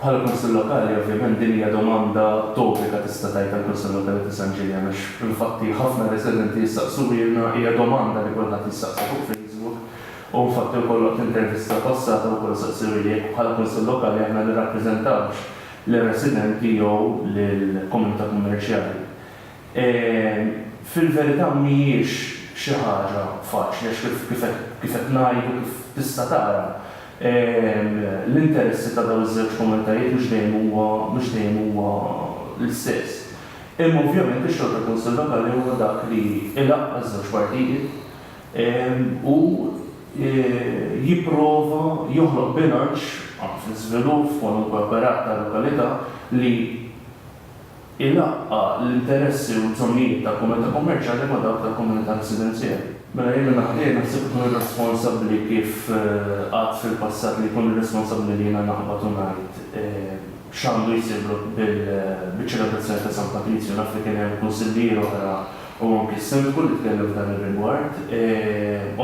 Bħala Kunsill Lokali, ovvjament din hija domanda topika tista' tgħid għall-Kunsill Lokali ta' San Ġiljan għax infatti ħafna residenti jistaqsuhielna, hija domanda li kulħadd jistaqsi fuq Facebook u infatti wkoll waqt intervista passata wkoll staqsewheli jekk bħala Kunsill Lokali aħna nirrappreżentawx lir-residenti jew lill-komunità kummerċjali. Fil-verità mhijiex xi ħaġa faċli għax kif kif qed ngħid u kif tista' tara, l-interessi ta' dawn iż-żewġ komunitajiet mhux dejjem huwa mhux dejjem huwa l-istess. Imma ovvjament ix-xogħol tal-Kunsill Lokali huwa dak li jlaqqa' ż-żewġ partijiet u jipprova joħloq bilanċ fl-iżvilupp f'kwalunkwe operat tal-lokalità li ilaqqa' l-interessi u l-bżonnijiet ta' komunità kummerċjali ma' dawk ta' komunità residenzjali. Mela jien minn naħa tiegħi naħseb ikun irresponsabbli kif għadt fil-passat li jkun irresponsabbli li jiena naqbad u ngħid x'għandu jsir biċ-ċelebrazzjoni ta' San Patrizju. Naf li kien hemm kunsillier oħra u anki s-Sindku li tkellem f'dan ir-rigward.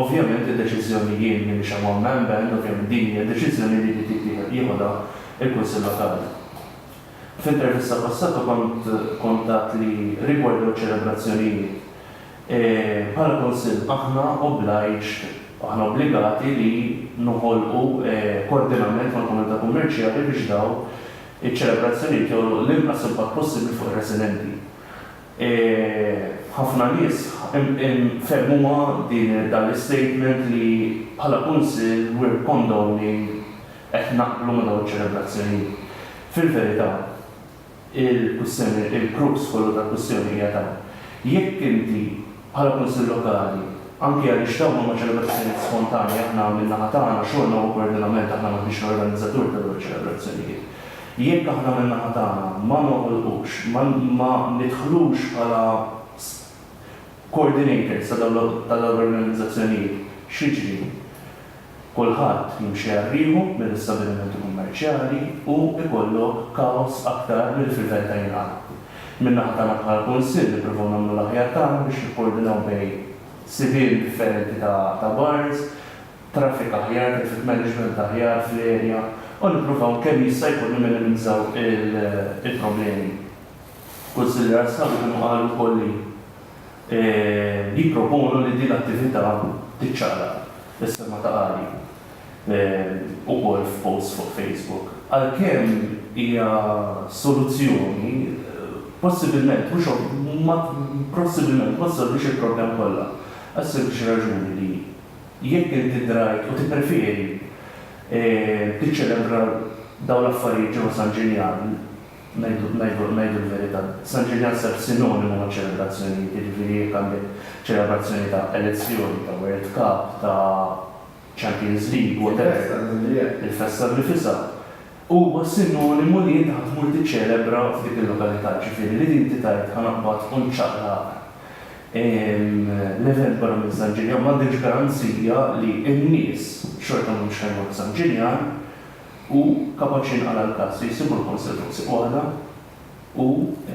Ovvjament id-deċiżjoni jien m'iniex hemm hawn ma' hemm band, ovvjament din hija deċiżjoni li jrid jittieħed jieħodha l-Kunsill Lokali. F'intervista passata kont kont għedt li rigward dawn iċ-ċelebrazzjonijiet, bħala Kunsill aħna obliged, aħna obbligati li noħolqu koordinament mal-komunità kummerċjali biex dawn iċ-ċelebrazzjonijiet joħloq l-inqas impatt possibbli fuq ir-residenti. Ħafna nies fehmuha din dan l-istatement li bħala Kunsill we're condoning Qed naqblu ma' dawn iċ-ċelebrazzjonijiet. Fil-verità, il-kwistjoni, il-crux kollu tal-kwistjoni hija dan, jekk inti bħala Kunsill Lokali, anki għaliex dawn huma ċelebrazzjonijiet spontanji, aħna min-naħa tagħna xogħolna huwa koordinament, aħna m'aħniex l-organizzatur ta' dawn iċ-ċelebrazzjonijiet, jekk aħna min-naħa tagħna ma noħolqux, ma ma nidħlux bħala coordinators ta' dawn l-organizzazzjonijiet, x'jiġri? Kulħadd jimxi għal riħu mill-istabbilimenti kummerċjali u ikollok kaos aktar milli fil-Vell ta' Inghal. Min-naħa tagħna bħala Kunsill nippruvaw nagħmlu l-aħjar tagħna biex nikkoordinaw bejn sibien differenti ta' bars, traffic aħjar, traffic management aħjar fl-area u nippruvaw kemm jista' jkun nimminimizzaw il-problemi. Kunsillier Assawi kienu qalu wkoll li li jipproponu li din l-attività tiċċaqlaq, is-sema ta' Għali, ukoll f'post fuq Facebook, għalkemm hija soluzzjoni, possibilment mhux ma possibilment ma ssolvix il-problema kollha, għas-sempliċi raġuni li jekk inti drajt u tippreferi tiċċelebra dawn l-affarijiet ġewwa San Ġinjan, Ngħidu l-verità, San Ġiljan sar sinonimu maċ-ċelebrazzjonijiet, jiġifieri jekk għandek ċelebrazzjoni ta' elezzjoni, ta' World Cup, ta' Champions League, whatever, il-festa nnifisha, huwa sinonimu li inti ħa tmur tiċċelebra f'dik il-lokalità, jiġifieri li inti tgħid ħa naqbad u nċaqlaq l-event barra minn San Ġiljan m'għandekx garanzija li n-nies xorta m'humiex ħa jmorru San Ġiljan, u kapaċi jinqala' l-każ li jsibu l-Kunsill fuq sieq waħda u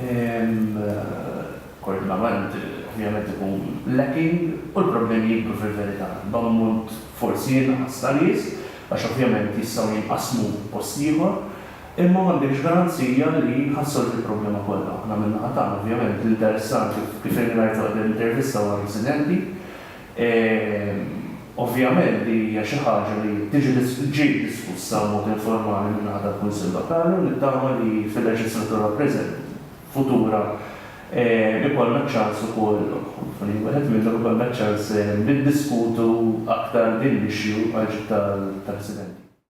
l-koordinament ovvjament ikun lacking u l-problemi jikbru fil-verità b'ammont forsi inqas ta' nies għax ovvjament jistgħu jinqasmu post ieħor imma m'għandekx garanzija li ħa ssolvi l-problema kollha. Aħna min-naħa tagħna ovvjament l-interessat kif irrajt waħda mill-intervista huwa r-residenti E Ovvjament din hija xi ħaġa li tiġi ġiet diskussa b'mod informali min-naħa tal-Kunsill Lokali u nittama li fil-leġislatura preżenti, futura, e ikollna ċ-ċans ukoll, f'ħin wieħed minnhom ikollna ċ-ċans niddiskutu aktar din l-issue għall-ġid tal-residenti.